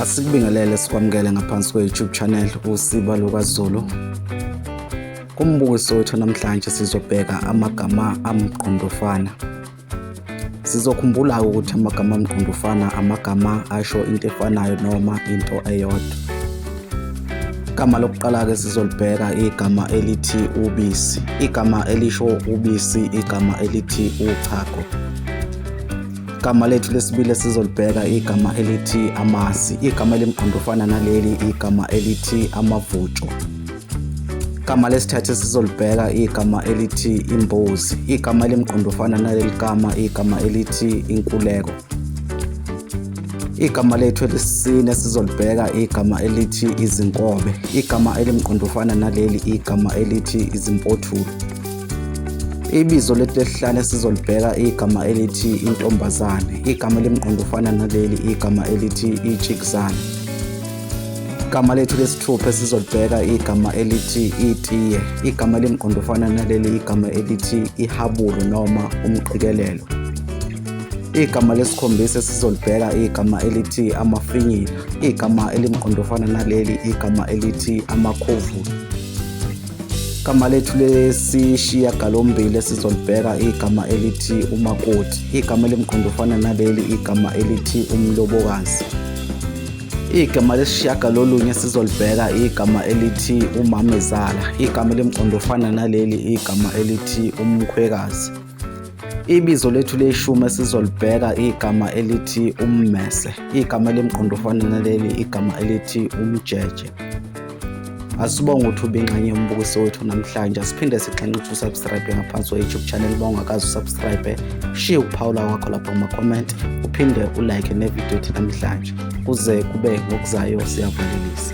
Asikubingelele sikwamukele ngaphansi kwe-YouTube channel uSiba LukaZulu. Kumbukiso wethu namhlanje sizobheka amagama amgqondofana. Sizokhumbula ukuthi amagama amgqondofana amagama asho into efanayo noma into eyodwa. Igama lokuqala-ke sizolibheka igama elithi ubisi. Igama elisho ubisi, igama elithi uchago. Igama lethu lesibili sizolibheka igama elithi amasi. Igama elimgqondofana naleli igama elithi amavutsho. Igama lesithathu sizolibheka igama elithi imbuzi. Igama elimgqondofana naleli gama igama elithi inkuleko. Igama lethu elisine sizolibheka igama elithi izinkobe. Igama elimgqondofana naleli igama elithi izimpothulo. Ibizo letesihlanu esizolibheka igama elithi intombazane. Igama elimqondofana naleli igama elithi ijikizane. Igama lethu lesithupha esizolibheka igama elithi itiye. Igama elimqondofana naleli igama elithi ihabulu noma umqikelelo. Igama lesikhombisa esizolibheka igama elithi amafinyila. Igama elimqondofana naleli igama elithi amakhovula. Igama lethu lesishiyagalombili esizolibheka igama elithi umakoti. Igama elimqondofana naleli igama elithi umlobokazi. Igama lesishiyagalolunye esizolibheka igama elithi umamezala. Igama elimqondofana naleli igama elithi umkhwekazi. Ibizo lethu leshumi esizolibheka igama elithi ummese, igama elimqondo ofana naleli igama elithi umjeje. Asibonge ukuthi ubingxenye yombukiso wethu namhlanje, asiphinde sixenxe ukuthi usubscribe ngaphansi kwe-YouTube channel uma ungakazi usubscribe, shiye ukuphawula kwakho lapha kuma-comment, uphinde ulike nevidiyo ethi namhlanje, kuze kube ngokuzayo siyavalelisa.